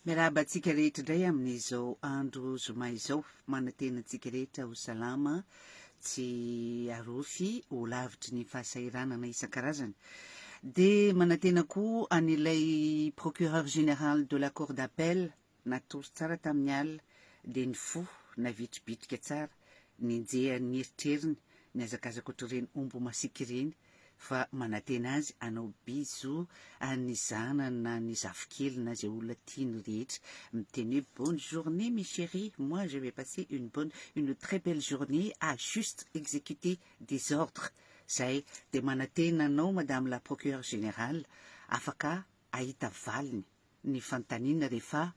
Miarahaba antsika rehetra indray amin'izao andro zoma izao. Manantena antsika rehetra ho salama, tsy arofy, ho lavitry ny fahasahiranana isan-karazany. Dia manantena koa an'ilay procureur général de la cour d'appel natory tsara tamin'ny alina, dia ny fo navitribitrika tsara, nenjehan'ny eritreriny, nihazakazaka ohatr'ireny omby masiaka ireny, fa manantena azy hanao bisous an'ny zanany na ny zafikeliny na izay olona tiany rehetra, miteny hoe bonne journée mes cheries, moi je vais passer une bonne, une très belle journée à juste exécuter des ordres, zay dia manantena anao madame la procureure générale, afaka hahita valiny ny fanontaniana rehefa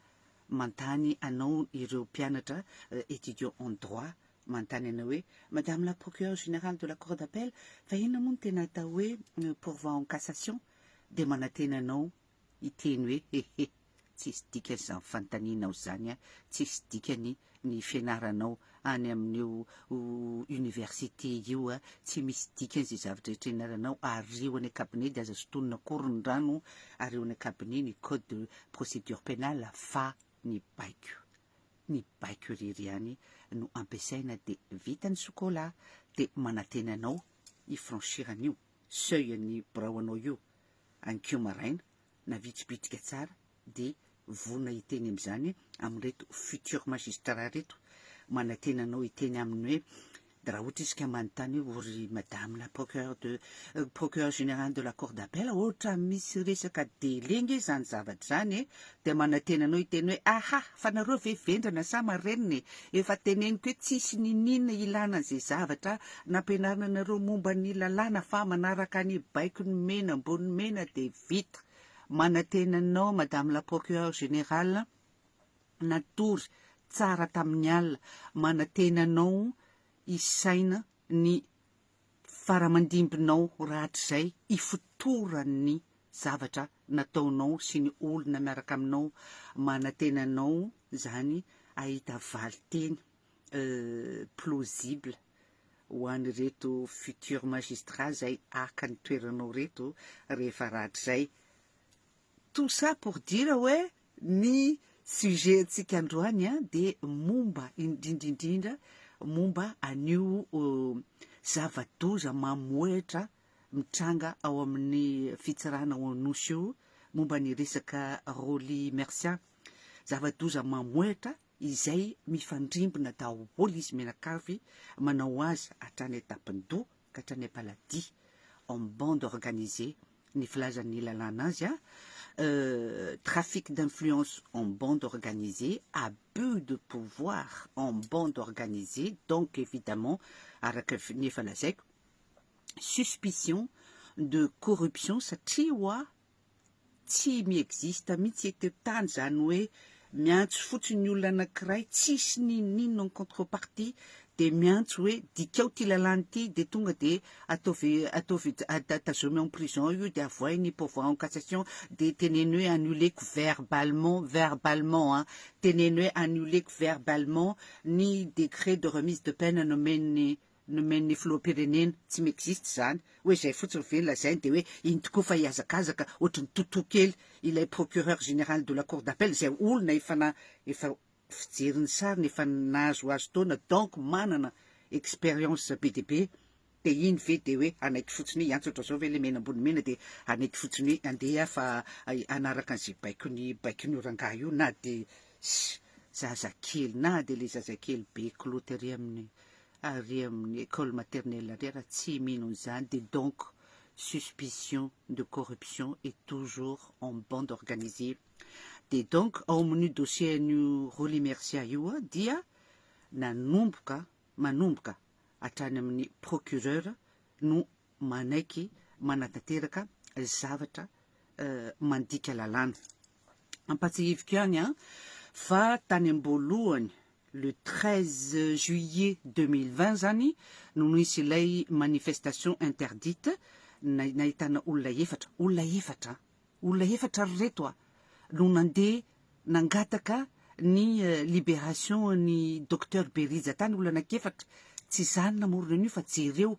mantany anao ireo mpianatra étudiants en droit mantany anao hoe madame la procureure générale de la cour d'appel fa inona moa no tena atao hoe pourvoi en cassation dia manantena anao hiteny hoe hehe tsisy dikany izany fanontanianao izany an, tsisy dikany ny fianaranao any amin'io université io a, tsy misy dikany izay zavatra rehetra ianaranao ary eo any cabinet dia aza sotonina akory ny rano ary eo any cabinet ny code de procédure pénale fa ny baiko ny baiko irery ihany no ampiasaina dia vita ny sokola dia manantena anao hi franchir an'io seuil an'ny birao anao io ankeo maraina na vitsy bitika tsara dia vonona hiteny amin'izany amin'ireto futur magistrat ireto, manantena anao hiteny aminy hoe raha ohatra izy ka manontany hoe o ry madame la procureur de procureur général de la cour d'appel ohatra misy resaka délai nge izany zavatra izany e, dia manantena anao hiteny hoe aha fa nareo ve vendrana sa marenina e, efa teneniko hoe tsisy niniana ilana an'izay zavatra nampianarina anareo momba ny lalàna fa manaraka ny baiko ny mena ambony mena dia Vita. Manantena anao Madame la Procureure Générale natory tsara tamin'ny alina, manantena anao hisaina ny faramandimbinao rahatrizay ifotoran'ny zavatra nataonao sy ny olona miaraka aminao, manantena anao izany hahita valinteny plausible. ho an'ireto futur magistrat zay haka ny toeranao reto rehefa rahatrizay. Tout ça pour dire hoe ny sujet antsika androany a dia momba indrindra indrindra momba an'io zava-doza mamohehitra mitranga ao amin'ny fitsarana ao Anosy io momba ny resaka Rolly Mercian. Zava-doza mamohehitra izay mifandrimbona daholo izy mianakavy manao azy hatrany an-tampon-doha ka hatrany am-paladia, en bande organisée, ny filazan'ny lalàna azy a, trafic d'influence en bande organisée, abus de pouvoir en bande organisée, donc évidemment araka ny efa lazaiko, suspicion de corruption satria ho'a Tsy mi existe mihitsy eto tany zany hoe miantso fotsiny ny olona anakiray tsisy n'inon'inona en contre partie de miantso hoe dikao ty lalàna ty de tonga de ataovy ataovy tazomy en prison io de avoahy ny pourvoi en cassation de teneno hoe annuleko verbalement verbalement an teneno hoe annuleko verbalement ny decret de remise de peine nomen'ny nomen'ny filoham-pirenena, tsy m'existe izany, hoe izay fotsiny ve ny lazainy dia hoe iny tokoa fa hihazakazaka ohatrin'ny totoa kely ilay procureur général de la cour d'appel izay olona efa na efa fijery ny sariny efa nahazoazo taona donc manana expérience be dia be dia iny ve dia hoe hanaiky fotsiny hoe hiantsotra zao ve ilay mena ambony mena dia hanaiky fotsiny hoe andeha fa hanaraka an'izay baikony baikon'io rangahy io na dia zazakely na dia ilay zazakely be kiloty ery amin'ny ary amin'ny école maternelle indray raha tsy mino an'izany dia donc suspicion de corruption et toujours en bande organisée dia donc ao amin'io dossier an'io Rolly Mercia io dia nanomboka manomboka hatrany amin'ny procureur no manaiky manatanteraka zavatra mandika lalàna Ampatsahiviko ihany an, fa tany am-boalohany, le treize juillet deux mille vingt zany no nisy ilay manifestation interdite, nahitana olona efatra, olona efatra an, olona efatra ry reto a, no nandeha nangataka ny liberation an'i Docteur Berija tany, olona anakiefatra, tsy izany namorona an'io fa jereo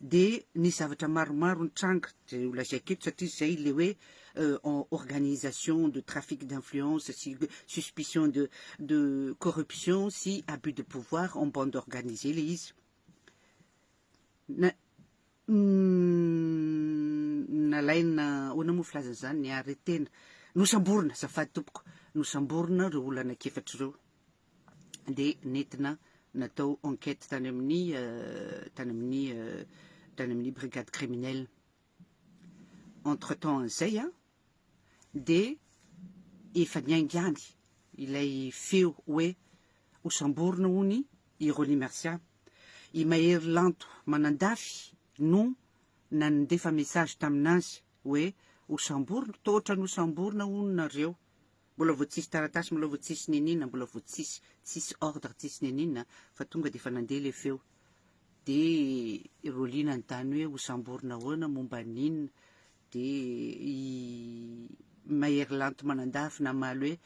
Dia nisy zavatra maromaro nitranga, izay ho lazaiko eto, satria izay ilay hoe organisation de trafic d'influence sy suspicion de de corruption sy abus de pouvoir en bande organisée ilay izy. Na nalaina ahoana moa filazana izany ny arrêté-na. Nosamborina, azafady tompoko, nosamborina ireo olona anankiefatra ireo. dia nentina natao enquête tany amin'ny tany amin'ny tany amin'ny brigade criminelle entre temps an'izay a dia efa niaingany ilay feo hoe hosamborina hono i Rony Mercia i Mahery Lanto Manandafy no nandefa message tamin'azy hoe hosamborina toa ohatran'ny hosamborina hono nareo Mbola vao tsisy taratasy mbola vao tsisy nenina mbola vao tsisy tsisy ordre tsisy nenina fa tonga dia efa nandeha ilay feo dia ireo liana ny tany hoe ho samborina ahoana momba n'inona dia i Mahery Lanto Manandafy namaly hoe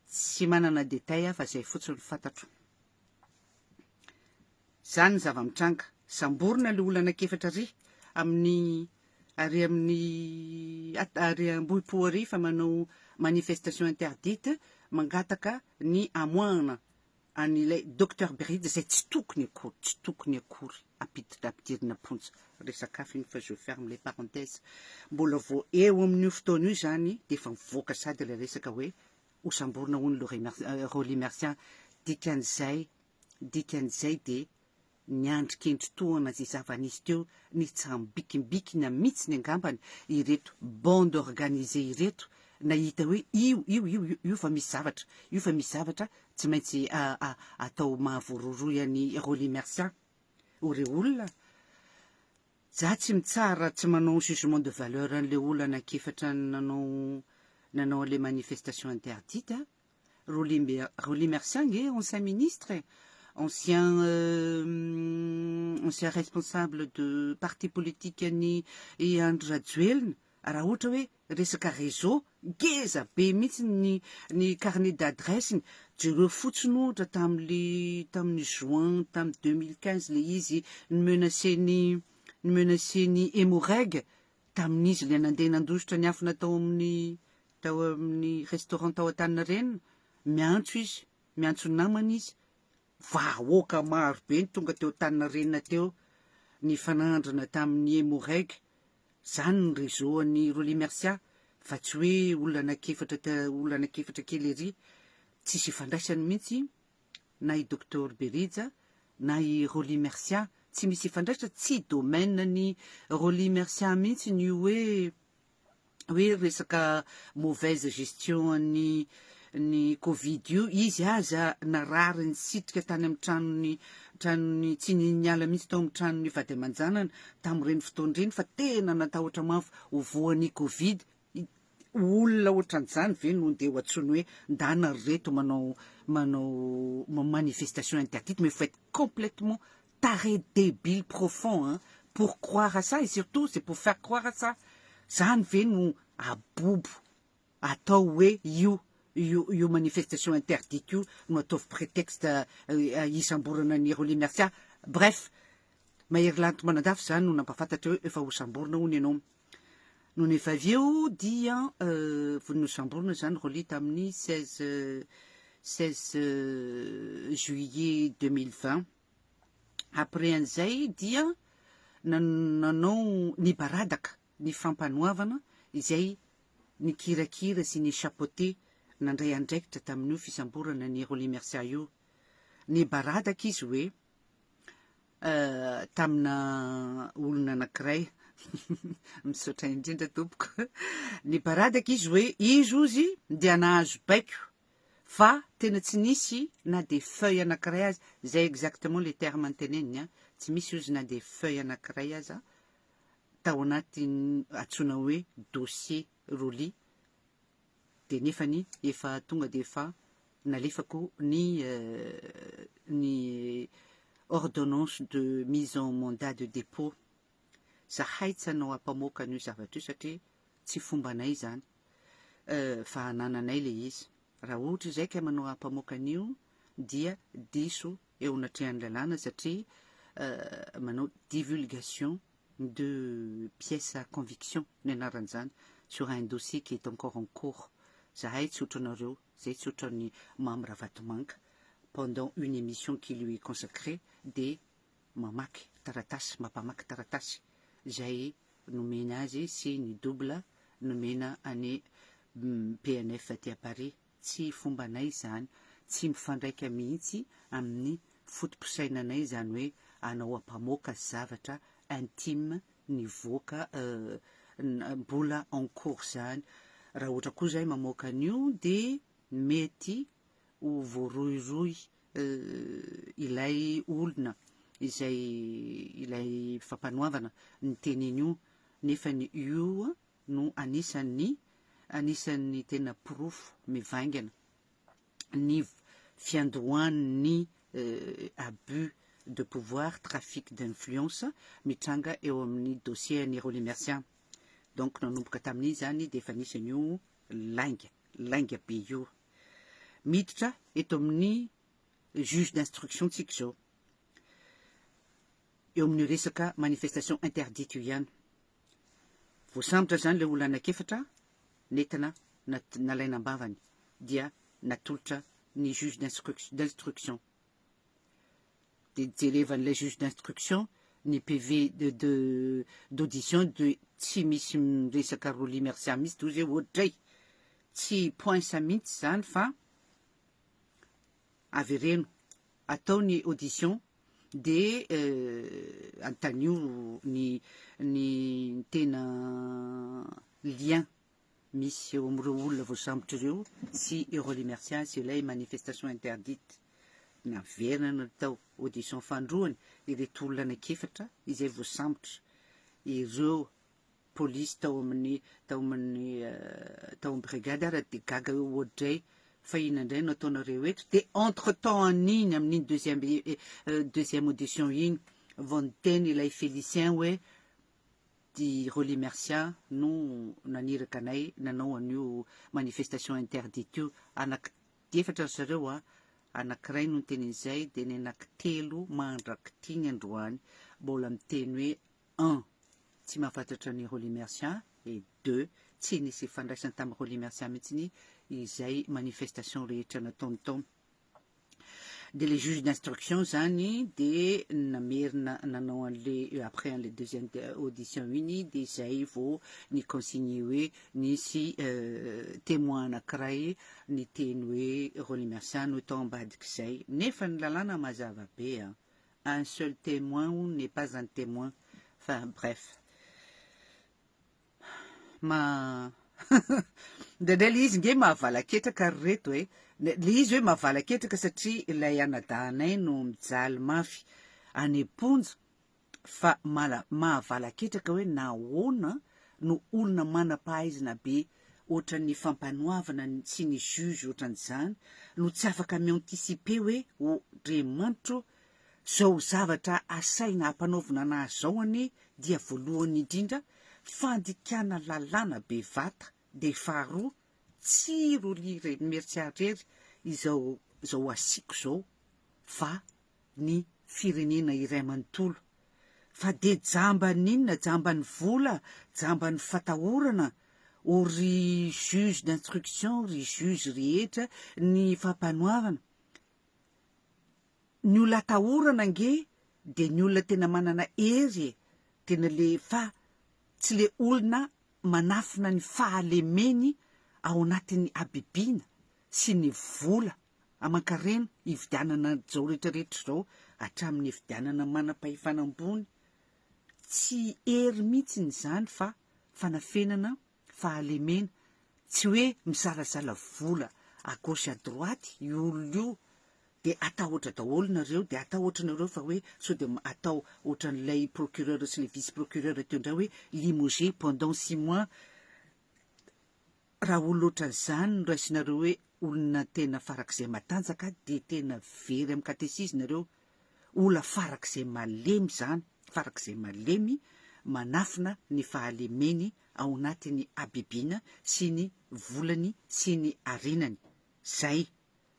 tsy manana détail aho fa izay fotsiny fantatro Izany ny zava-mitranga. Samborina ilay olona anankiefatra ary amin'ny ary amin'ny ary Ambohipo ary fa manao manifestation interdite mangataka ny hamoahana an'ilay Docteur Beride izay tsy tokony akory, tsy tokony akory ampiditra ampidirina am-ponja. Resaka hafa iny fa je ferme les parenthèses. Mbola vao eo amin'io fotoana io izany dia efa mivoaka sady ilay resaka hoe ho samborina hono le Rolly Mercian dikan'izay dikan'izay dia niandry kendry tohana izay zava-nisy teo nitsambikimbikina mitsiny angambany ireto bande organisée ireto nahita hoe io io io io fa misy zavatra io fa misy zavatra tsy maintsy atao mahavororoy an'i Rolly Mercian o re olona Zah tsy mitsara raha tsy manao jugement de valeur an'le olana ankefatra nanao nanao an'le manifestation interdite a! Rolly Mbe Rolly Mercia ange ancien ministre e! Ancien ancien responsable de parti politique an'i i Andry Rajoelina raha ohatra hoe Resaka réseau, ngeza be mihitsy ny ny carnet d'adresse-ny, jereo fotsiny ohatra tamin'le tamin'ny juin tamin'ny deux mille quinze le izy ni-menacer-ny ni-menacer-ny Emmo-Reg tamin'izy le nandeha nandositra niafina tao amin'ny tao amin'ny restaurant tao Antaninarenina, miantso izy, miantso namany izy, vahoaka maro be ny tonga teo Antaninarenina teo nifanandrina tamin'ny Emmo-Reg. Zany ny réseau an'i Rolly Mercia fa tsy hoe olona anak'efatra ta olona anak'efatra kely ery. Tsisy ifandraisany mintsy na i Docteur Berija na i Rolly Mercia. Tsy misy ifandraisany, tsy domaine an'i Rolly Mercia mintsiny io hoe hoe resaka mauvaise gestion an'i ny covid io, izy aza narary nisitrika tany amin'ny tranony tranony tsy ny niala mihitsy tao amin'ny tranony vady aman-janany tamin'ireny fotoana ireny fa tena natahotra mafy ho voan'ny covid olona ohatran'izany ve no ndeha ho antsoiny hoe ndana ry reto manao manao manifestation interdite mais faut être complètement taré débile profond hein pour croire à ça et surtout c'est pour faire croire à ça zany ve no abobo atao hoe io io io manifestation interdite io no ataovy prétexte hisamborana an'i Rolly Mercia bref Mahery Lanto Manandafy zany no nampafantatra hoe efa hosamborina hono ianao nony efa avy eo dia nosamborina zany Rolly tamin'ny 16 16 juillet 2020 après an'izay dia nanao nibaradaka ny Fampanoavana izay nikirakira sy ni-chapeauter nandray andraikitra tamin'io fisamborana an'i Rolly Mercia io. Nibaradaka izy hoe tamina olona anankiray. Misaotra indrindra tompoko. Nibaradaka izy hoe izy ozy dia nahazo baiko fa tena tsy nisy na de feuille anankiray aza, zay exactement le terme nteneniny an, tsy misy ozy na de feuille anankiray aza, tao anatin'ny antsoina hoe dossier Rolly dia nefany efa tonga dia efa nalefako ny ny ordonnance de mise en mandat de dépôt. Zahay tsy hanao ampamoaka an'io zavatra io satria tsy fombanay izany fa anananay ilay izy. Raha ohatra izay ka manao ampamoaka an'io dia diso eo anatrehan'ny lalàna satria manao divulgation de pièces à conviction ny anaran'izany sur un dossier qui est encore en cours. Zahay tsy otranareo, zay tsy otran'ny Mamy Ravatomanga pendant une émission qui lui est consacrée de mamaky taratasy, mapamaky taratasy zay nomena azy sy ny double nomena any PNF aty à Paris. Tsy fombanay izany, tsy mifandraika mihitsy amin'ny fotopisainanay izany hoe anao ampamoaka zavatra intime nivoaka euh mbola en cours izany. Raha ohatra koa izahay mamoaka an'io dia mety ho voarohirohy euh ilay olona izay ilay fampanoavana ny tenin'io nefa ny io no anisan'ny anisan'ny tena porofo mivaingana ny fiandohan'ny abus de pouvoir, trafic d'influence mitranga eo amin'ny dossier an'i Rolly Mercia. Donc nanomboka tamin'iny izany dia efa nisy an'io lainga, lainga be io. Miditra eto amin'ny juge d'instruction tsika izao. Eo amin'ny resaka manifestation interdite io ihany. Voasambotra izany ilay olona anankefatra nentina nalaina am-bavany dia natolotra ny juge d'instruction. Dia jerevan'ilay juge d'instruction ny PV d'audition de tsy misy miresaka Rolly Mercia mihitsy dia hoy izy hoe ohatray tsy poinsa mihitsy izany fa avereno atao ny audition de antanio ny ny tena lien misy eo amin'ireo olona voasambotry ireo sy i Rolly Mercia sy ilay manifestation interdite naverina natao audition fahandroany ireto olona anaky efatra izay voasambotra ireo polisy tao amin'ny tao amin'ny tao amin'ny brigade ary dia gaga eo oadray fa inona indray no ataonareo eto dia entre temps an'iny amin'iny deuxième deuxième audition iny vao niteny ilay Félicien hoe di Rolly Mercia no naniraka anay nanao an'io manifestation interdite io anak dia efatra ry zareo a anankiray no niteny an'izay dia ny anankitelo mandrak'ity ny androany mbola miteny hoe Un, Tsy mahafatratra an'i Rolly Mercia et deux, Tsy nisy ifandraisany tamin'i Rolly Mercia mihitsy izay manifestation rehetra nataony tao. Dia ilay juge d'instruction izany dia namerina nanao an'ilay après an'ilay deuxième audition iny dia izay vao ny consigne hoe nisy témoin anankiray niteny hoe Rolly Mercia no tao ambadik'izay. Nefa ny lalàna mazava be an! Un seul temoin ou n'est pas un temoin enfin bref ma ndraindray le izy nge mahavalaketraka ry reto e le izy hoe mahavalaketraka satria ilay anadahanay no mijaly mafy any am-ponja fa mahavalaketraka hoe nahoana no olona manam-pahaizana be Ohatran'ny fampanoavana sy ny juge ohatran'izany no tsy afaka mi-anticiper hoe oh dry manitro zao zavatra asaina hampanaovina anahy zao anie dia voalohany indrindra fandikana lalàna be vata dia faharoa tsy roly re mertsiarery izao zao asiako zao fa ny firenena iray manontolo fa dia jamban'ny inona jamban'ny vola jamban'ny fatahorana o ry juge d'instruction ry juge rehetra ny fampanoavana ny olona atahorana ange dia ny olona tena manana hery e tena le fa tsy le olona manafina ny fahalemeny ao anatin'ny habibiana sy ny vola aman-karena hividianana izao rehetrarehetra izao hatramin'ny hividianana manam-pahefana ambony, tsy hery mihitsy izany fa fanafenana, fahalemena, tsy hoe misalasala vola à gauche à droite io olona io dia atahotra daholo nareo dia atahotra nareo fa hoe sao dia atao ohatran'ilay procureur sy ilay vice-procureur teo indray hoe limogé pendant six mois Raha olona ohatran'izany no raisinareo hoe olona tena farak'izay matanjaka dia tena very amin'ny katesizy nareo. Ola farak'izay malemy izany, farak'izay malemy manafina ny fahalemeny ao anatin'ny habibiana sy ny volany sy ny harenany. Izay.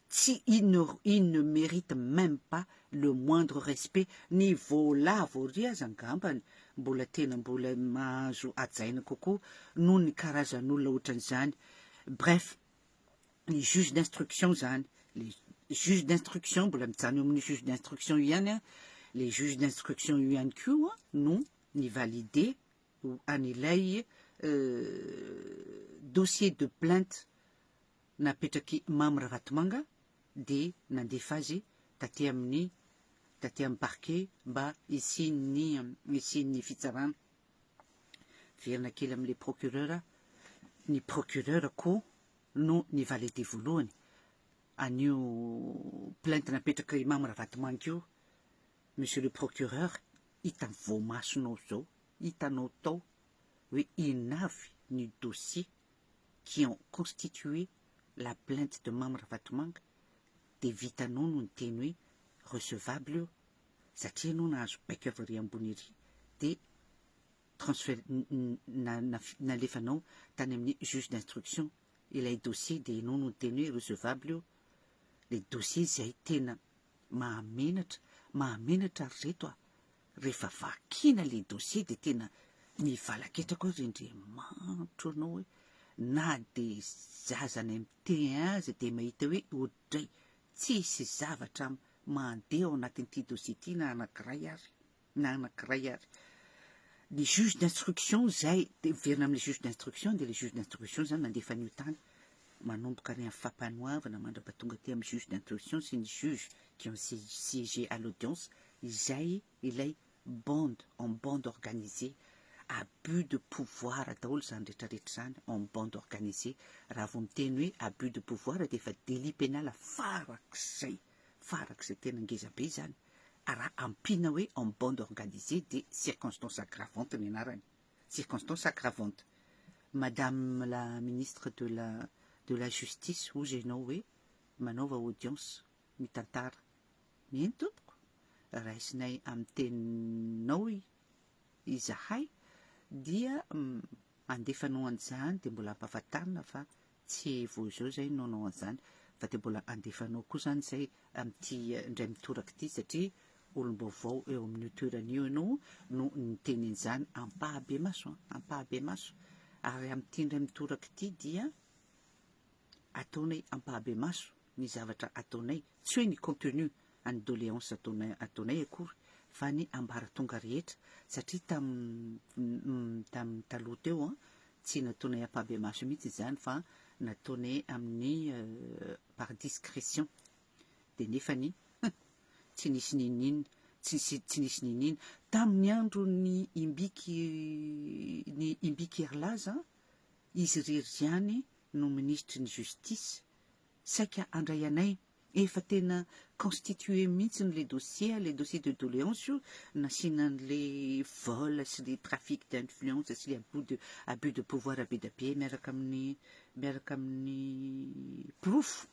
Tsy inor il ne merite meme pas le moindre respect ny volavo ery aza angambany mbola tena mbola mahazo hajaina kokoa noho ny karazan'olona otran'izany bref ny juge d'instruction zany le juge d'instruction mbola mijanona eo amin'ny juge d'instruction io ihany an le juge d'instruction io ihany koa no ny valider an'ilay euh, dossier de plainte Napetrak'i Mamy Ravatomanga dia nandefa azy taty amin'ny taty amin'ny Parquet mba hisian'ny hisian'ny fitsarana. Miverina kely amin'ilay Procureur, ny Procureur koa no ni-valider voalohany an'io plainte napetrak'i Mamy Ravatomanga io, Monsieur le Procureur, hita amin'ny voamasonao izao, hitanao tao hoe inona avy ny dossier qui ont constitué la plainte de Mamy Ravatomanga dia vitanao no niteny hoe recevable io satria ianao nahazo baiko avy ery ambony ery dia transfer na nalefanao tany amin'ny juge d'instruction ilay dossier dia ianao no niteny hoe recevable io le dossier izay tena mahamenatra mahamenatra ry reto a Rehefa vakina le dossier de tena mivalaketra koa ry ndry manitro anao hoe na de zaza any am te aza de mahita hoe odray tsisy zavatra mandeha ao anatin ty dossier ty na anakiray ary na anakiray ary ny juge d'instruction zay de miverina amle juge d'instruction de le juge d'instruction zany nandefa anio tany manomboka any amin'ny fampanoavana mandrapa tonga aty amin'ny juge d'instruction sy ny juges qui ont siégé à l'audience izay ilay bande en bande organisée abus de pouvoir daholo izany retraretra izany en bande organisée raha vao miteny hoe abus de pouvoir dia efa délit pénal farak'izay farak'izay tena ngeza be izany raha ampiana hoe en bande organisée dia circonstance aggravante ny anarany circonstance aggravante. Madame la ministre de la de la justice hozy ianao hoe manaova audience mitantara. Eny tompoko, raisinay amin'ny teninao izahay dia andefa noho an'izany dia mbola ampahafantarina fa Tsy vao izao izay no hanao an'izany fa dia mbola handefa anao koa izany izay amin'ity indray mitoraka ity satria olom-baovao eo amin'io toerana io ianao no niteny an'izany ampahibemaso an! ampahibemaso! ary amin'ity indray mitoraka ity dia ataonay ampahibemaso ny zavatra ataonay, tsy hoe ny contenu any doléance ataonay ataonay akory fa ny ambaratonga rehetra satria tamin'ny tamin'ny taloha teo an, tsy nataonay ampahibemaso mihitsy izany fa nataonay amin'ny par discrétion dia nefany hum tsy nisy n'inon'inona tsy nisy tsy nisy n'inon'inona tamin'ny andron'ny imbiky ny imbiky herilaza an, izy irery ihany no minisitry ny justice saika handray anay Efa tena constitué mihitsy ny le dossier a, le dossier de doléance io nasiana ny le vol sy le trafic d'influence sy le abus de abus de pouvoir be da be miaraka amin'ny miaraka amin'ny porofo.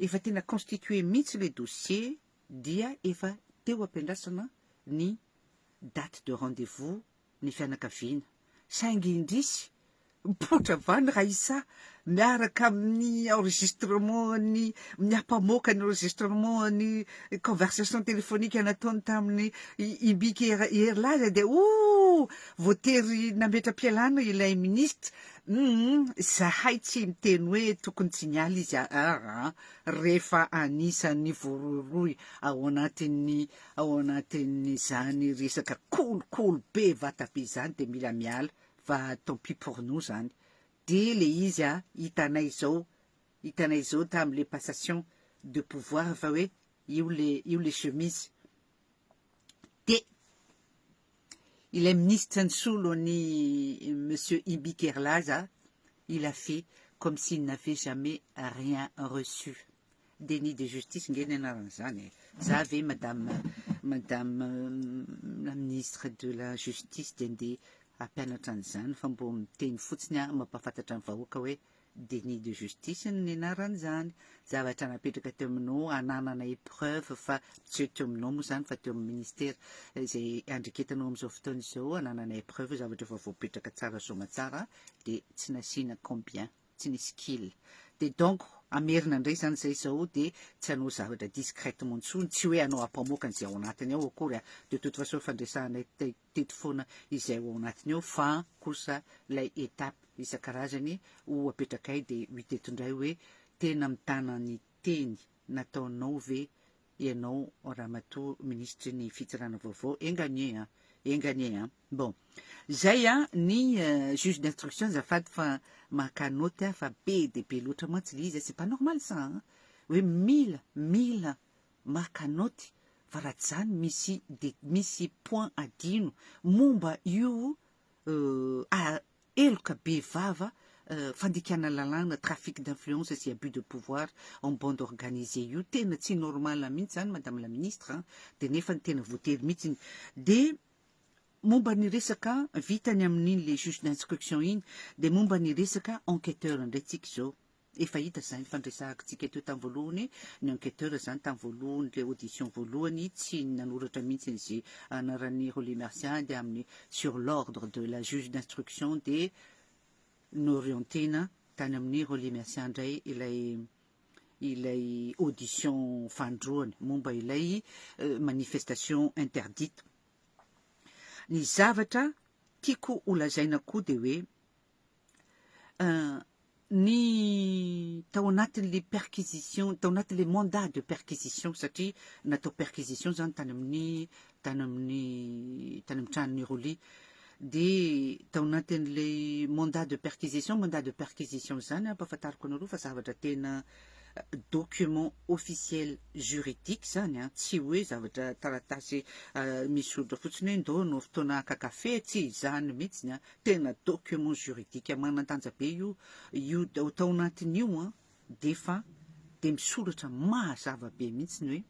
Efa tena constitué mihitsy le dossier dia efa teo ampiandrasana ny date de rendez-vous ny fianakaviana, saingy indrisy, mipoitra vany Raissa miaraka amin'ny enregistrement-ny, ny ampamoaka ny enregistrement-ny conversation téléphonique nataony tamin'i Ibike Hery Laza dia oh! voatery nametra-pialana ilay ministra, humm, izahay tsy miteny hoe tokony tsy niala izy aa, rehefa anisan'ny voarohirohy ao anatin'ny Ao anatin'izany resaka kolikoly be vata be izany dia mila miala fa tant pis pour nous izany. Dia le izy a, hitanay izao, hitanay izao tamin'le passation de pouvoir fa hoe io le io le chemise. Dia ilay minisitra nisolo an'i monsieur Ibi Kerlaza, il a fait comme s'il n'avait jamais rien reçu. Déni de justice nge ny anaran'izany e! Za ve madame madame la ministre de la justice dia ndeha hampianatra an'izany fa mbo miteny fotsiny aho mampahafantatra ny vahoaka hoe déni de justice ny anaran'izany. Zavatra napetraka teo aminao hananana épreuve fa tsy hoe teo aminao moa izany fa teo amin'ny ministera izay andreketanao amin'izao fotoana izao hananana épreuve zavatra efa voapetraka tsara soamatsara dia tsy nasiana combien. tsy nisy kil. Dia donc hamerina ndray zany zay zao dia tsy hanao zavatra discrètement ntsony, tsy hoe hanao ampamoaka an'izay ao anatiny ao akory a, de toute façon efa ndresahanay teto foana izay ao anatiny ao fa kosa lay étape isan-karazany ho apetrakay dia ho hita eto ndray hoe tena mitana ny teny nataonao ve ianao ramatoa ministry ny fitsarana vaovao enga anie a enga anie a bon zay a ny juge d'instruction zafady fa maka note a fa be de be loatra mantsy le izy a c'est pas normal ça a hoe mila mila maka note fa raha tsy zany misy de misy point adino momba io Euh ah heloka be vava euh fandikana lalàna trafic d'influence sy abus de pouvoir en bande organisée io tena tsy normal mihitsy zany madame la ministre an de nefa ny tena voatery mihitsy de momba ny resaka vitany amin'iny le juge d'instruction iny de momba ny resaka enquêteur indray tsika izao Efa hita zany fa niresahaktsika teo tam voalohany ny enqueteur zany tam voalohany le audition voalohany tsy nanoratra mintsiny ze anaran'i Rolly Mercia dia aminy sur l'ordre de la juge d'instruction dia norientena tany aminy Rolly Mercia ndray ilay ilay audition fandroany momba ilay manifestation interdite ny zavatra tiako holazaina koa dia hoe ny tao anatin'ilay perquisition, tao anatin'ilay mandat de perquisition satria natao perquisition izany tany amin'ny tany amin'ny tany amin'ny tranon'i Roly. Dia tao anatin'ilay mandat de perquisition, mandat de perquisition izany ampahafantariko anareo fa zavatra tena document officiel juridique izany an, tsy hoe zavatra taratasy misy soritra fotsiny hoe ndao no fotoana haka kafe, tsy izany mihitsy ny an, Tena document juridique manan-danja be io, io ao tao anatiny io an, dia efa dia misoratra mazava be mihitsy ny hoe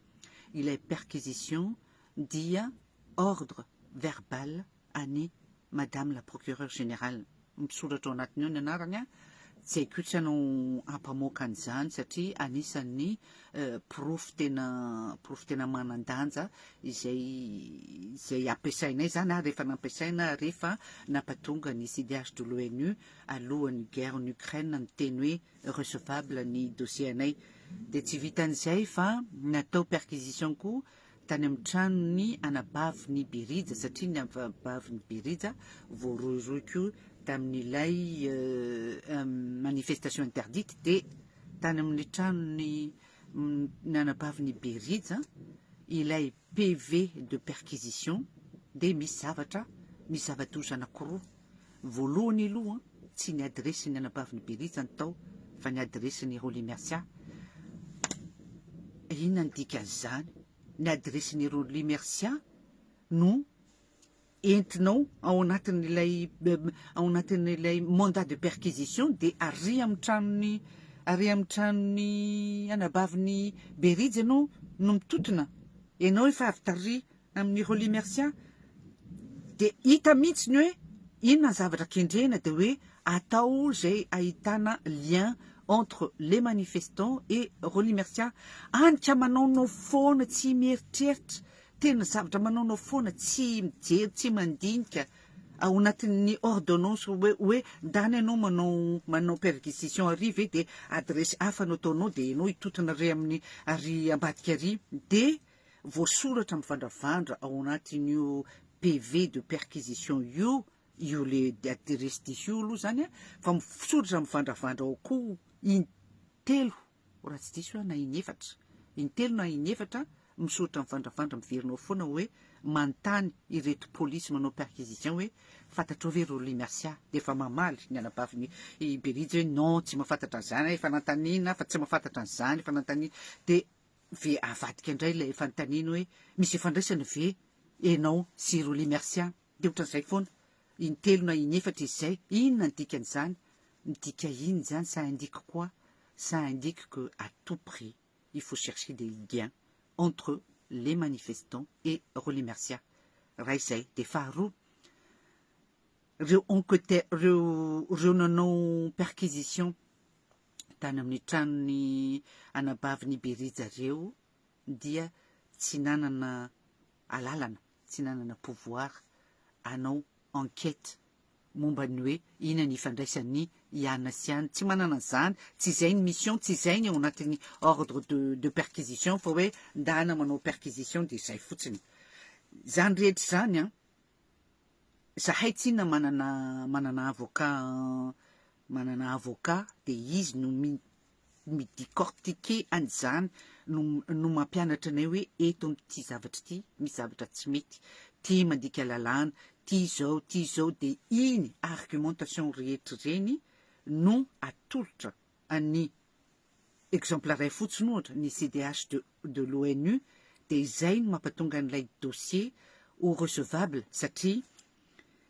ilay perquisition dia ordre verbal an'i Madame la Procureure Générale. Misoratra ao anatiny ao ny anarany an, tsy haiko tsy hanao hampamoaka an'izany satria anisan'ny porofo tena porofo tena manan-danja izay izay ampiasainay zany ary rehefa nampiasaina rehefa nampatonga ny CDH de l'ONU alohan'ny guerre en Ukraine niteny hoe recevable ny dossier anay dia tsy vitan'izay fa natao perquisition koa tany amin'ny tranon'ny anabaviny Berija, satria ny anabaviny Berija voarohirohy koa tamin'ilay manifestation interdite dia tany amin'ny tranon'ny ny anabaviny Berija ilay PV de perquisition dia misy zavatra, misy zava-doza anankiroa. Voalohany aloha, tsy ny adiresin'ny anabavin'i Beriza no tao fa ny adiresin'i Rollymercia. Inona ny dikan'izany? Ny adiresin'i Rollymercia no entinao ao anatin'ilay ao anatin'ilay mandat de perquisition dia ary amin'ny tranon'ny ary amin'ny tranon'ny anabavin'i Beriza ianao no mitotona. Ianao efa avy taria Amin'ny Rolly Mercia dia hita mihitsy ny hoe inona ny zavatra kendrena dia hoe atao izay ahitana lien entre les manifestants et Rolly Mercia any ka manaonao foana tsy mieritreritra tena zavatra manaonao foana tsy mijery tsy mandinika ao anatin'ny ordonnance hoe hoe ndany ianao manao manao perquisition ary ve dia adresy hafa no ataonao dia ianao hitotona ary amin'ny ary ambadika ary dia voasoratra mivandravandra ao anatin'io PV de perquisition io, io le adresse diso io aloha zany a, fa misoratra mivandravandra ao koa in telo raha tsy diso aho na in efatra, in telo na in efatra misoratra mivandravandra miverina ao foana hoe manontany ireto polisy manao perquisition hoe fantatrao ve Rolly Mercia? dia efa mamaly ny anabaviny i Berija hoe non tsy mahafantatra an'izany aho efa nanontaniana fa tsy mahafantatra an'izany efa nanontaniana dia ve avadika indray ilay fanontaniana hoe misy ifandraisany ve enao sy Rolly Mercia? Dia ohatran'izay foana. Intelo na inefatra izy izay. Inona ny dikan'izany? Midika inona izany? Ça indique quoi? Ça indique que à tout prix il faut chercher des liens entre les manifestants et Rolly Mercia. Iray izay. Dia faharoa, ireo enquêteurs, ireo ireo nanao perquisition tany amin'ny tranon'ny anabavin'i Berija ireo dia tsy nanana alalana, tsy nanana pouvoir hanao enquête momba ny hoe ina ny ifandraisan'ny iana sy iana. Tsy manana an'izany, tsy izay ny mission, tsy izay ny ao anatin'ny ordre de, de perquisition fa hoe ndana manao perquisition dia izay fotsiny. Izany rehetra izany an, Zahay tsinona manana manana avocat manana avocat de izy no mi mi-dicortiquer an'izany no no mampianatra anay hoe eto amin'ity zavatra ity misy zavatra tsy mety ty mandika lalàna ty izao ty izao de iny argumentation rehetra ireny no atolotra an'ny exemple iray fotsiny ohatra ny CDH de de l'ONU dia izay no mampatonga an'ilay dossier ho recevable satria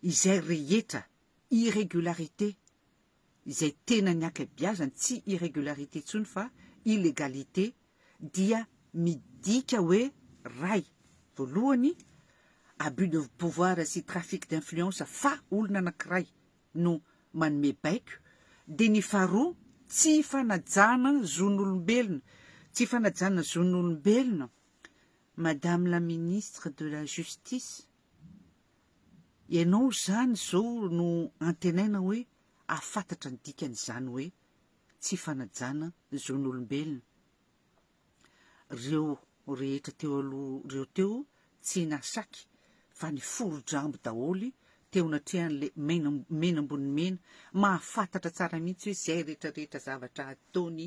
izay rehetra irrégularité izay tena ny ankabeazany tsy irrégularité intsony fa illégalité dia midika hoe ray voalohany abus de pouvoir sy trafic d'influence fa olona anankiray no manome baiko, dia ny faharoa, tsy fanajana zon'olombelona, tsy fanajana zon'olombelona, Madame la Ministre de la Justice, ianao izany izao no antenaina hoe hahafantatra ny dikan'izany hoe tsy fanajana zon'olombelona. Reo rehetra teo aloha reo teo tsy nasaky fa nifory drambo daholy teo natrehan'le mena mena ambony mena mahafatatra tsara mihitsy hoe zay rehetra rehetra zavatra ataony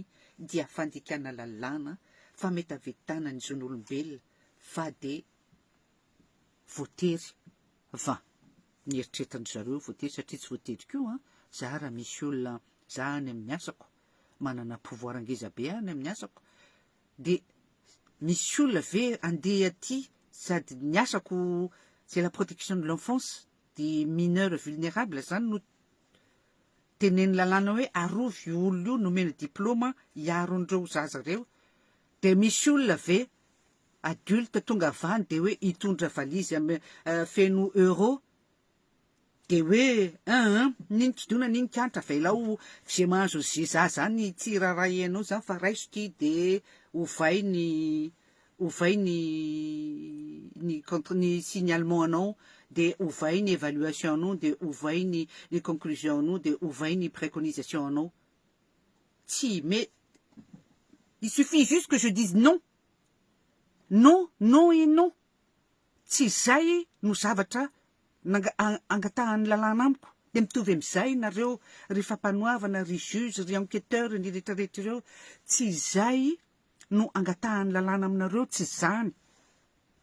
dia fandikana lalàna fametavetana ny zon'olombelona fa de voatery va nieritreritra ndry zareo voatery satria tsy voatery koa an za raha misy olona za any amin'ny asako manana pouvoir ngeza be any amin'ny asako dia misy olona ve andeha aty sady ny asako c'est la protection de l'enfance de mineur vulnérable zany no tenen'ny lalàna hoe arovy io olona io nomena diplôma hiaro an'ireo zaza ireo dia misy olona ve adulte tonga avy any dia hoe hitondra valise am- eh, feno euro De hoe eeh nini kidona nini kianitra avelao ze mahazo anze za zany tsy irarahianao zany fa raiso ty de ovay ny ovay ny ny contre ny signalement anao de ovay ny evaluation anao de ovay ny ny conclusion anao de ovay ny preconisation anao tsy mais il suffit juste que je dise non non non et non Tsy izay no zavatra angatahan'ny lalàna amiko, dia mitovy amin'izay ianareo ry fampanoavana, ry juge, ry enquêteur, ny rehetrarehetra ireo, tsy izay no angatahan'ny lalàna aminareo, tsy izany,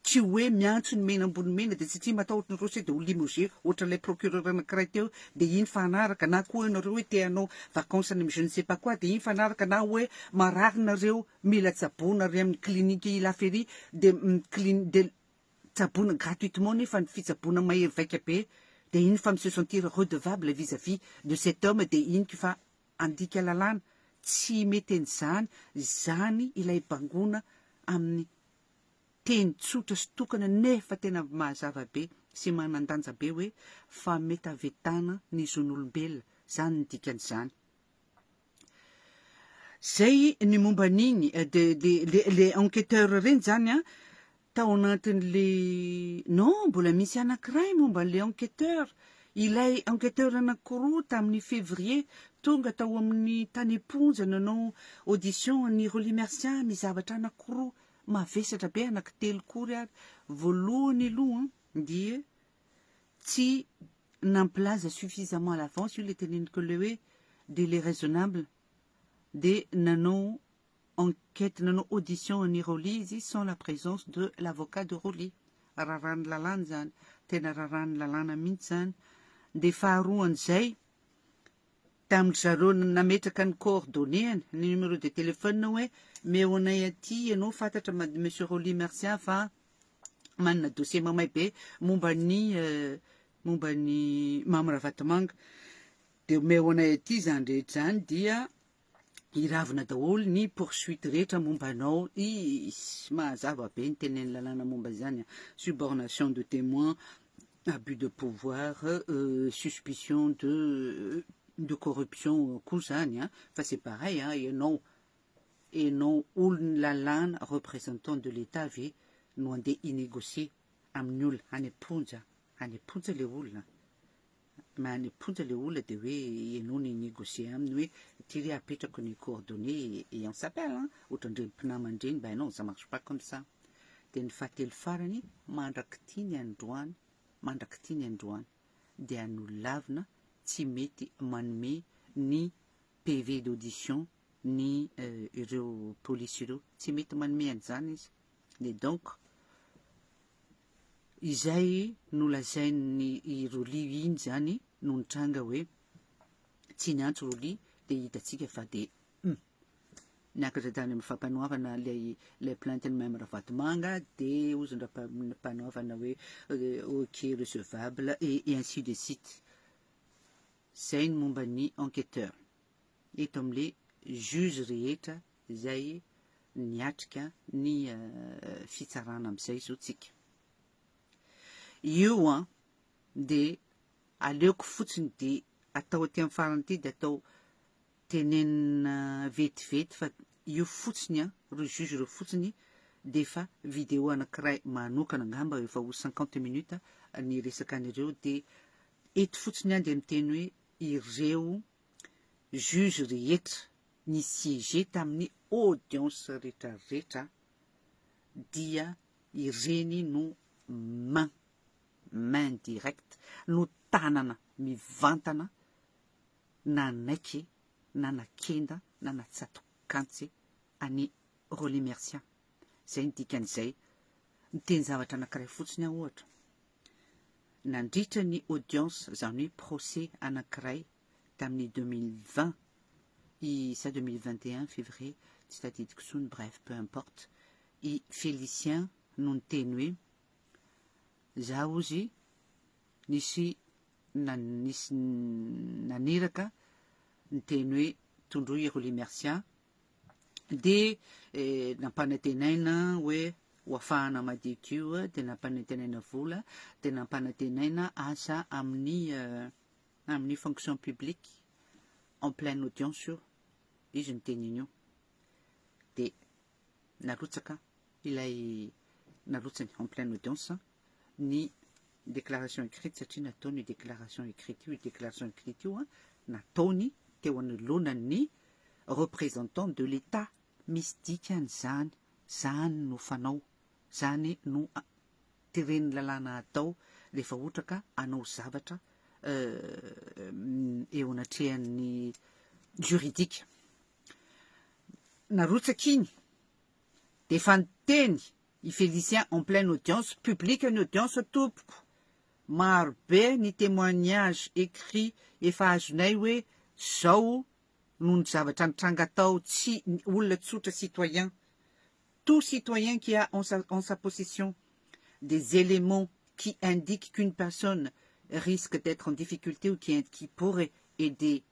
tsy hoe miantso ny mena ambony mena dia tsy tia matahotra ny rossy dia ho limogé ohatran'ilay procureur anankiray teo dia iny fanaraka na koa ianareo hoe te hanao vacances any amin'ny je ne sais pas quoi dia iny fanaraka na hoe marary nareo Mila tsaboina re amin'ny clinique la ferie de miclin de tsaboina gratuitement nefa ny fitsaboina mahery vaika be de iny fa mi se sentir redevable vis à vis de cet homme de iny ko fa andika lalàna tsy mety an'izany izany ilay bangona amin'ny teny tsotra sy tokana nefa tena mazava be sy manandanja be hoe fametavetana ny zon'olombelona zany ny dikan'izany. Zay ny momba an'igny de de le le enquêteur reny zany an tao anatin'le non mbola misy anakiray momba an'le enquêteur ilay enquêteur anakiroa tamin'ny février tonga tao amin'ny tany am-ponja nanao audition an'i Rolly Mercia misy zavatra anakiroa mavesatra be anaky telo koa ry ary voalohany aloha dia tsy nampilaza suffisamment à l'avance io ilay teneniko ilay hoe délai raisonnable dia nanao enquête nanao audition an'i Rolly izy sans la présence de l'avocat de Rolly. Raràn'ny lalàna izany, tena raràn'ny lalàna mihitsy izany. Dia faharoan'izay, tamin-dry zareo nametraka ny coordonnées-ny, ny numéro de téléphone hoe meo anay aty ianao fantatra Monsieur Rolly Mercian fa manana dossier mamay be momba ny momba ny Mamy Ravatomanga dia omeo anay aty izany rehetra izany dia hiravina daholo ny poursuite rehetra momba anao is mahazava be ny tenen'ny lalàna momba izany subornation de témoin abus de pouvoir euh, suspicion de euh, de corruption koa zany a fa c'est pareil a ianao Enao olon'ny lalàna représentant de l'Etat ve no andeha hi-negocier amin'ny olona any am-ponja a? Any am-ponja le olona a? Any am-ponja le olona dia hoe enao no hi-negocier aminy hoe ity re apetrako ny coordonnées et on s'appelle an! Ohatran'ireny mpinamana ireny ben non ça marche pas comme ça. Dia ny fahatelo farany, mandrak'ity ny androany, mandrak'ity ny androany dia nolavina tsy mety manome ny PV d'audition ny ireo polisy ireo tsy mety manome an'izany izy dia donc izay nolazain'ny i Roly iny izany no nitranga hoe tsy niantso Roly dia hitantsika fa dia hum niakatra tany amin'ny fampanoavana ilay ilay plainte-n'i Mme Ravatomanga dia hozy ny rampanoavana hoe ok recevable et ainsi de suite izay ny momba ny enquêteur eto amle juge rehetra zay niatrika ny fitsarana amzay zao tsika io an de aleoko fotsiny de atao aty am farany aty de atao tenenina vetivety fa io fotsiny an reo juge reo fotsiny de efa video anakiray manokana angamba efa ho cinquante minutes ny resaka an'ireo de eto fotsiny an de miteny hoe ireo Juge rehetra ni-siéger tamin'ny audience rehetra rehetra dia ireny no main, main direct, no tanana mivantana nanaiky na nakenda na natsatokantsy an'i Rolly Mercia. Izay ny dikan'izay. Niteny zavatra anankiray fotsiny aho ohatra. Nandritra ny audience, izany hoe procès anankiray tamin'ny deux mille vingt i sa deux mille vingt et un février, tsy tadidiko tsony, bref, peu importe, i Félicien no niteny hoe, za ozy nisy nisy naniraka niteny hoe tondroy ry Lemercia, dia nampanantenaina hoe ho afahana madioka io eh, dia nampanantenaina vola, dia nampanantenaina asa amin'ny eh, amin'ny fonction publique en pleine audience io, izy ny teny an'io. Dia narotsaka ilay narotsany en pleine audience, eh. ny déclaration écrite satria nataony io déclaration écrite io, io déclaration écrite io an, nataony teo anoloanan'ny représentant de l'Etat. Misy dikany izany, izany no fanao, izany no tiren'ny lalàna hatao rehefa ohatra ka hanao zavatra eo anatrehan'ny juridique. Narotsaka iny dia efa niteny I Félicien en pleine audience publique ny audience tompoko maro be ny témoignage écrit efa azonay hoe zao no ny zavatra nitranga tao tsy olona tsotra citoyen tout citoyen qui a en sa en sa possession des éléments qui indiquent qu'une personne risque d'être en difficulté ou qui qui pourrait aider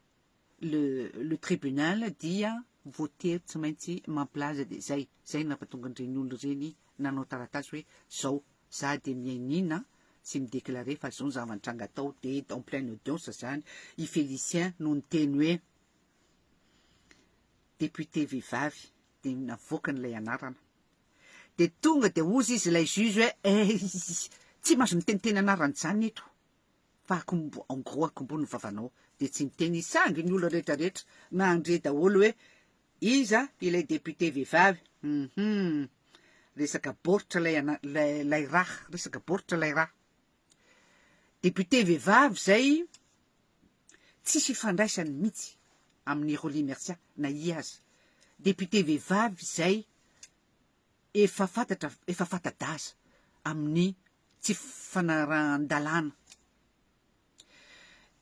le le tribunal dia voatery tsy maintsy mampilaza dia zay zay no nampatonga an'ireny olona ireny nanao taratasy hoe zao za dia mihainiana sy mi-declarer fa zao ny zava-nitranga tao dia en pleine audience zany i Félicien no niteny hoe député vehivavy dia navoakany ilay anarana dia tonga dia hozy izy ilay juge hoe eh tsy mahazo miteniteny anarana izany eto fa akombo en gros akombo ny vavanao de tsy miteny izy sangy ny olona rehetra rehetra mandre daholo hoe iza ilay député vehivavy hum resaka baoritra ilay ana ilay ilay raha resaka baoritra ilay raha député vehivavy zay tsisy ifandraisany mihitsy amin'ny Rolly Mercia na i aza député vehivavy zay efa fantatra efa fanta-daza amin'ny tsy fanarahan-dalàna.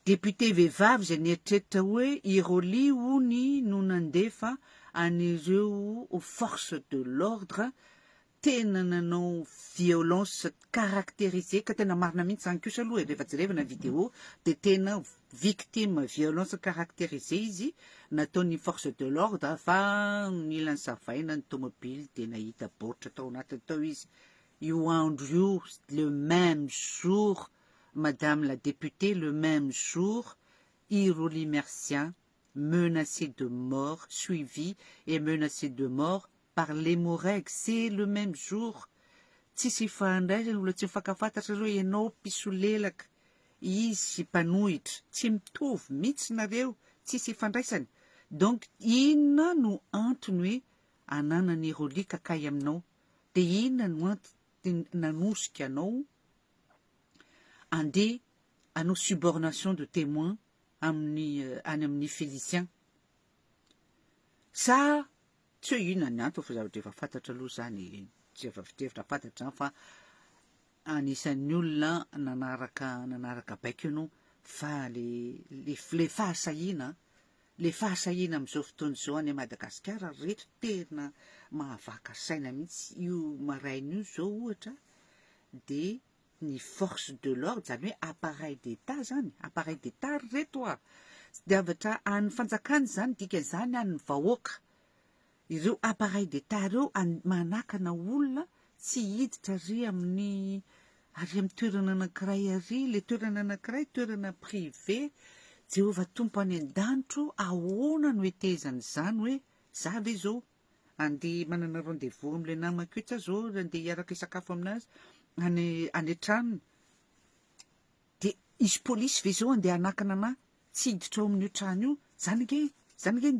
Député vehivavy izay nieritreritra hoe i Rolly hono no nandefa an'ireo forces de l'ordre tena nanao violence caractérisée ka tena marina mihitsy izany kosa aloha e, rehefa jerevana ny vidéo dia tena victime violence caractérisée izy nataon'ny forces de l'ordre fa nila nisavaina ny tomobily dia nahita baoritra tao anatiny tao izy. io andro io le même jour madame la députée le même jour i Rolly Mercia menacé de mort suivi et menacé de mort par les Moreg c'est le même jour tsisy ifandraisany mbola tsy mifankafantatra reo enao mpisolelaka izy mpanohitra tsy mitovy mitsy nareo tsisy ifandraisany donc inona no antony hoe ananan'i Rolly ka kay aminao dia inona no antony nanosika anao andeha hanao subornation de témoin amin'ny any amin'ny Félicien? Sa tsy hoe inona ny antony fa zavatra efa fantatra aloha izany e, tsy efa fitevitra fantatra izany fa anisan'ny olona nanaraka nanaraka baiko ianao fa le le le fahasahiana Le fahasahiana amin'izao fotoana izao any Madagasikara ry reto tena mahavaka saina mihitsy, io maraina io zao ohatra de ny force de l'ordre zany hoe appareil d'Etat zany, appareil d'Etat ry reto a! tsy diavatra an'ny fanjakana izany dikan'izany an'ny vahoaka Ireo appareils d'Etat ireo manakana olona tsy hiditra ary amin'ny ary amin'ny toerana anankiray ary, ilay toerana anankiray toerana privé, Jehovah Tompo any an-danitro ahoana no hetehezana izany hoe za ve izao andeha manana rendez-vous amin'ilay namako io, sa izao andeha hiaraka hisakafo aminazy any any an-tranony. De hisy polisy ve zao andeha hanakana anà tsy hiditra ao amin'io trano io? Zany ange, zany ange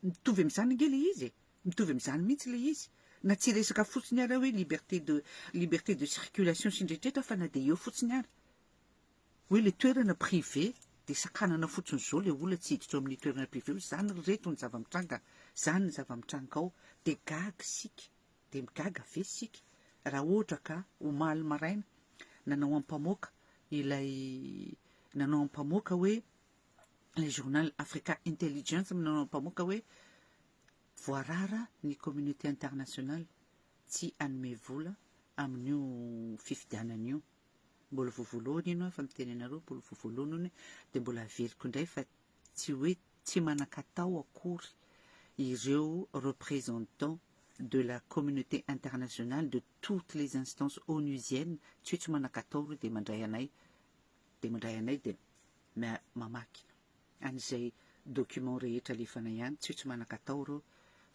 mitovy am'zany ange le izy e, mitovy am'zany mihitsy le izy. Na tsy resaka fotsiny ara hoe liberté de liberté de circulation sy ny rehetraretra fa na de eo fotsiny ara hoe le toerana privé de sakanana fotsiny zao le olona tsy hiditra ao amin'io toerana privé io, zany ry reto ny zava-mitranga, zany ny zava-mitranga ao de gaga isika. Dia migaga ve isika raha ohatra ka omaly maraina nanao ampamoaka ilay nanao ampamoaka hoe ilay journal Africa Intelligence nanao ampamoaka hoe voarara ny communauté internationale tsy hanome vola amin'io fifidianana io mbola voavoloany ianao efa miteny anareo mbola voavoloany dia mbola aveliko indray fa Tsy hoe tsy manan-katao akory ireo representants de la communauté internationale de toutes les instances onusiennes, tsy hoe tsy manan-katao ireo dia mandray anay, dia mandray anay dia mamaky an'izay documents rehetra alefana ihany, tsy hoe tsy manan-katao ireo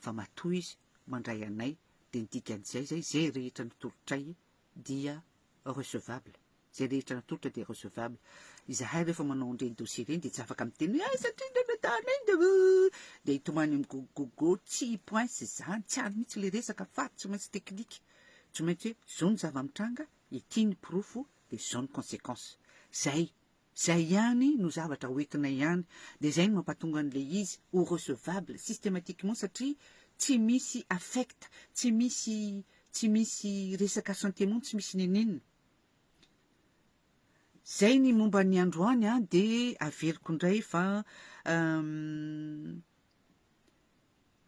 fa matoa izy mandray anay dia ny dikan'izay izay, izay rehetra notolotray dia recevable, izay rehetra natolotra dia recevable, izahay rehefa manao an'ireny dossier ireny dia tsy afaka miteny hoe aiza aty ny retards ny dia hitomany amin'ny gogogogo, tsy points izany, tsy any mihitsy ilay resaka fa tsy maintsy technique, tsy maintsy hoe izao ny zava-mitranga, ity ny porofo dia izao ny consequence, izay. Zay ihany no zavatra ho entinay ihany dia zay no mampatonga an'ilay izy ho recevable systematiquement satria tsy misy affect tsy misy tsy misy resaka sentiment tsy misy niniana Zay ny momba ny androany an dia averiko indray fa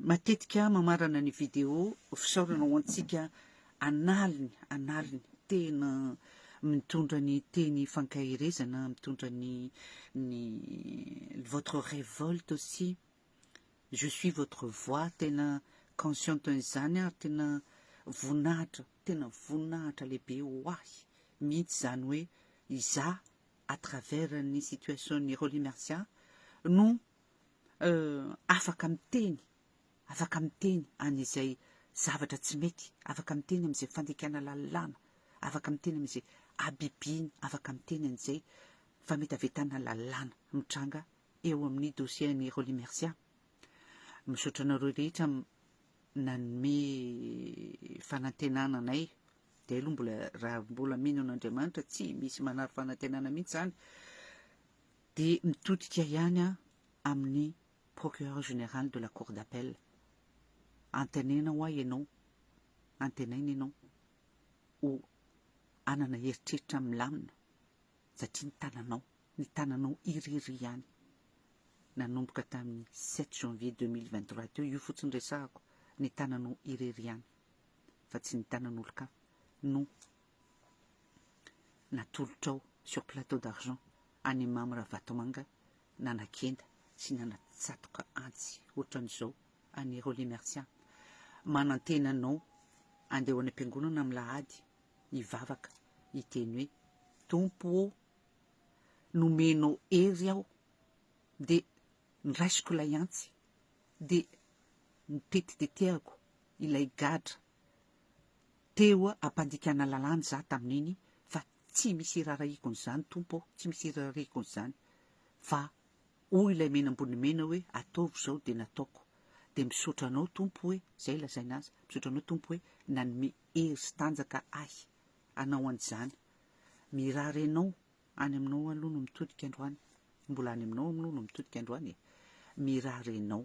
Matetika mamarana ny video fisaorana ho antsika an'aliny an'aliny. Tena mitondra ny teny fankaherezana, mitondra ny ny votre révolte aussi. Je suis votre voix, tena consciente an'izany aho ary tena voninahitra, tena voninahitra lehibe ho ahy mihitsy izany hoe izaho à travers ny situation-n'i Rolly Mercia no Euh, afaka miteny, afaka miteny an'izay zavatra tsy mety, afaka miteny amin'izay fandikana lalàna, afaka miteny amin'izay habibiana, afaka miteny an'izay fametavetana lalàna mitranga eo amin'ny dossier an'i Rolly Mercia. Misaotra anareo rehetra nanome fanantenana anay dia aloha mbola raha mbola mino an'Andriamanitra tsy misy manary fanantenana mihitsy izany dia mitodika ihany aho amin'ny Procureur Général de la Cour d'Appel. Antenaina hoa ianao, antenaina ianao ho hanana eritreritra milamina satria ny tananao, ny tananao irery ihany. Nanomboka tamin'ny sept janvier deux mille vingt trois teo, io fotsiny resahako, ny tananao irery ihany fa tsy ny tanan'olon-kafa no natolotrao sur plateau d'argent an'i Mamy Ravatomanga nanakenda sy nanatsatoka antsy ohatran'izao an'i Rolly Mercia, manantena anao andeha ho any am-piangonana amin'lahady hivavaka hiteny hoe, Tompo ô! nomenao hery aho dia noraisiko ilay antsy dia notetiteteako ilay gadra Teo ampandikana lalàna za tamin'iny fa tsy misy irarahiko an'izany Tompo ô, tsy misy irarahiko an'izany fa hoy ilay mena ambony mena hoe ataovy izao dia nataoko, dia misaotra anao Tompo hoe, izay lazaina azy, misaotra anao Tompo hoe nanome hery sy tanjaka ahy hanao an'izany, mirary anao, any aminao aloha no mitodika androany, mbola any aminao aloha no mitodika androany e, mirary anao.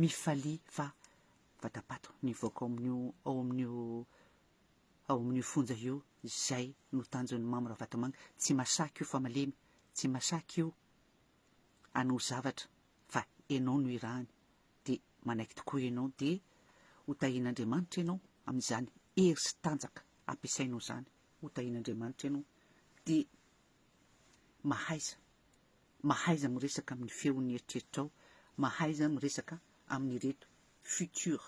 Mifalia fa vatapato nivoaka ao amin'io ao amin'io ao amin'io fonja io izay no tanjon'ny Mamy Ravatomanga. Tsy masaky io fa malemy, tsy masaky io anao zavatra fa ianao no irahany dia manaiky tokoa ianao dia ho tahian'Andriamanitra ianao amin'izany hery sy tanjaka ampiasainao izany ho tahian'Andriamanitra ianao dia mahaiza mahaiza miresaka amin'ny feon'ny eritreritrao, mahaiza miresaka amin'ireto futur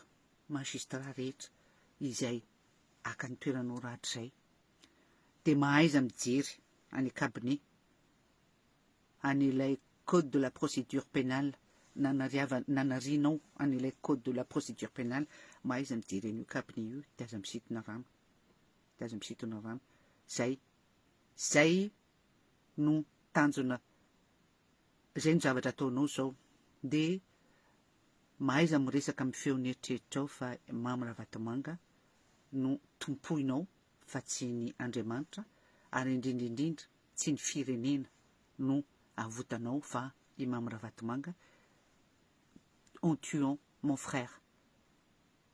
magistrat rehetra izay haka ny toeranao rahatrizay, dia mahaiza mijery any cabinet an'ilay code de la procédure pénale nanariava nanarianao an'ilay code de la procédure pénale, mahaiza mijery an'io cabinet io dia aza misitona rano, dia aza misitona rano, zay, zay no tanjona izay no zavatra ataonao zao de mahaiza miresaka amin'ny feon'ny eritreritrao fa Mamy Ravatomanga no tompoinao fa tsy ny Andriamanitra ary indrindra indrindra tsy ny firenena no avotanao fa i Mamy Ravatomanga en tuant mon frère